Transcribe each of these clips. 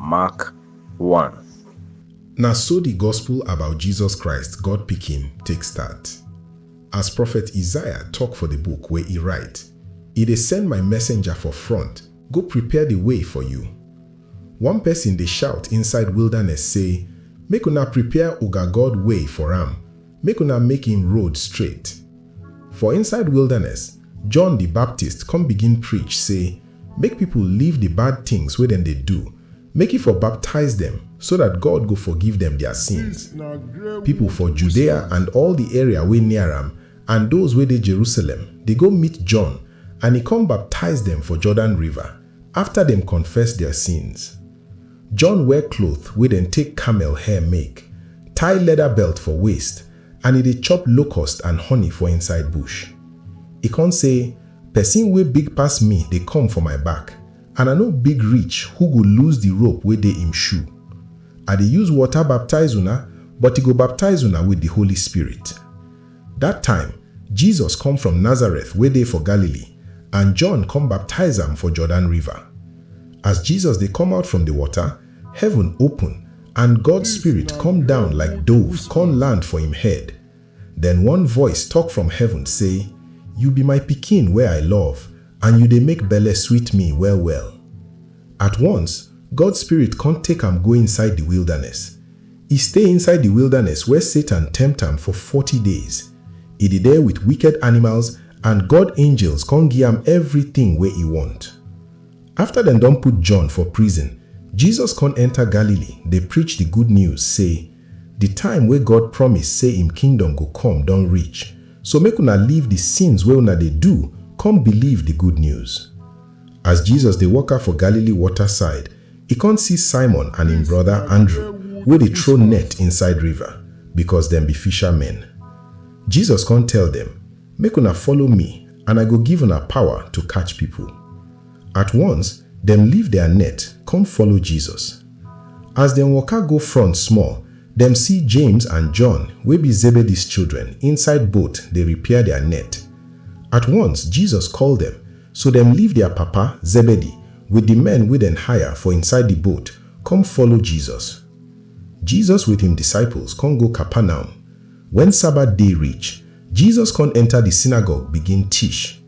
Mak. 1. Na so di gospel about Jesus Christ, God Pikin, take start. As prophet Isaiah tok for di book wey e write, I dey send my messenger for front go prepare di way for you. One pesin dey shout inside wilderness sey, Make una prepare oga God way for am, Make una make im road straight. For inside wilderness, John di Baptist come begin preach sey make pipo leave di bad tins wey dem dey do, make e for baptize dem so dat God go forgive dem dia sins. Pipo for Judea and all di area wey near am and those wey dey Jerusalem dey go meet John and e come baptize dem for Jordan River. Afta dem confess dia sins, John wear cloth wey dem take camel hair make, tie leather belt for waist, and e dey chop locust and honey for inside bush. E con say, Pesin wey big pass me dey come for my back, and I no big reach who go loose di rope wey dey im shoe. I dey use water baptize una, but e go baptize una wit di Holy Spirit. Dat time, Jesus come from Nazareth wey dey for Galilee, and John come baptize am for Jordan River. As Jesus dey come out from di water, heaven open, and God Spirit come down like dove con land for im head. Den one voice tok from heaven sey, You be my Pikin wey I love, and you dey make belle sweet me well-well. At once, God Spirit con take am go inside di wilderness. E stay inside di wildaness where Satan tempt am for forty days. E di der with wicked animals and God angels kon gi am evritin wey e wont. Afta dem don put John for prison, Jesus kon enter Galili dey preach di good news sey, Di time wey God promise sey im kingdom go kom don reach, so make una leave di sins wey una dey do kom biliv di good news. As Jesus dey waka for Galili wota side, E kon si Simon and en broda Andru wey dey tro net inside riva, bikos dem bi fisha men. Jesus kon tel dem, Make una follow mi and I go give una pawa to katch pipol. At wons, dem leave dia net kom follow Jesus. As dem woka go front smol, dem si James and John wey bi Zebedis children inside boat dey repair dia net. At wons, Jesus kol dem, So dem leave dia papa, Zebedee, wit di men wey dem hire for inside di boat, come follow Jesus. Jesus wit im disciples con go Capernaum. Wen Sabbath day reach, Jesus con enta di synagogue begin tish.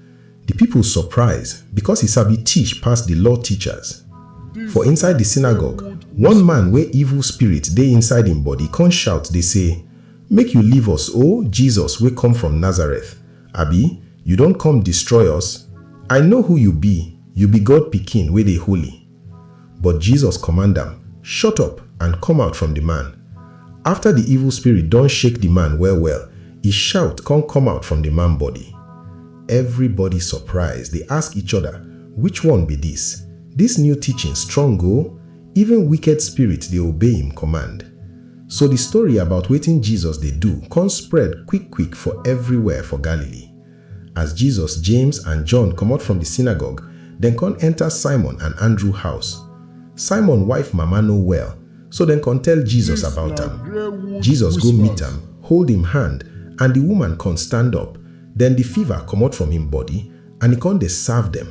Di pipol surprise, becos e sabi tish pass di law teachers. For inside di synagogue, one man wey evil spirit dey inside im body con shout dey say, Make yu leave us, O Jesus wey kom from Nazareth! Abi you don come destroy us? I know who you be, you be God pikin wey dey holy. But Jesus command am, Shut up and come out from the man. After the evil spirit don shake the man well well, e shout come come out from the man body. Everybody surprise dey ask each other, Which one be this? This new teaching strong oo, even wicked spirit dey obey im command. So di story about wetin Jesus dey do kon spread kwik-kwik for evriwhere for Galilee. As Jesus, James, and John komot from di synagogue, dem kon enta Simon and Andrew house. Simon wife mama no well, so dem kon tell Jesus about am. Jesus go meet am, hold im hand, and di woman kon stand up, den di fiva komot from im body, And e kon dey serve dem.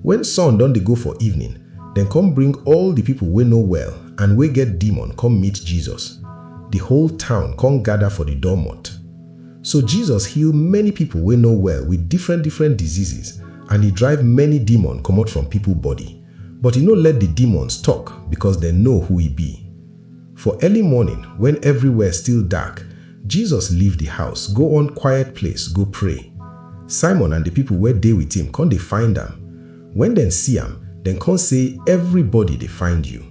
Wen sun don dey go for evening, dem kon bring all di pipol wey no well and wey get demon kom meet Jesus. Di whole town kon gada for di doormot. So Jesus heal many pipol wey no well with different different diseases and e drive many demon komot from pipol body. But e no let di demons tok, bikos dem know who e bi. For early morning, wen everywhere still dark, Jesus leave di house, go one quiet place go pray. Simon and di pipo wey dey wit him con dey find am. Wen dem see am, dem con sey, Everybody dey find you.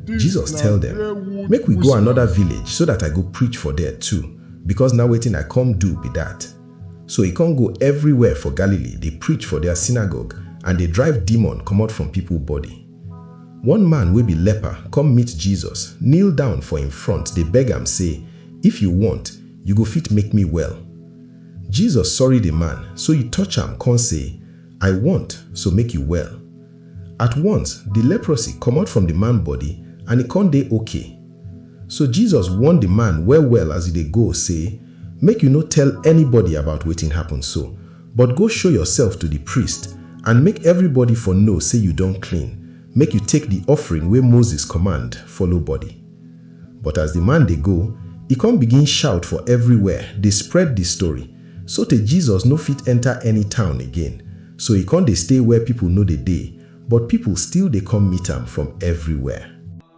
Jesus tell dem, Make we go anoda village so dat I go preach for there too, becos na wetin I come do be dat. So e con go everywhere for Galilee dey preach for dia synagogue and dey drive demon comot from pipo body. One man wey be leper come meet Jesus, kneel down for im front dey beg am sey, If you want, you go fit make me well. Jesus sorry the man, so e touch am con sey, I want, so make you well. At once, the leprosy comot from the man body and e con dey ok. So Jesus warn the man well well as e dey go sey, Make you no tell anybody about wetin happen so, But go show yoursef to di priest, and make everybody for know sey you don clean, make you take di offering wey Moses command follow body. But as di man dey go, e con begin shout for everywhere, dey spread di story, sotey Jesus no fit enter any town again, so e con dey stay where people no dey dey, but people still dey come meet am from everywhere.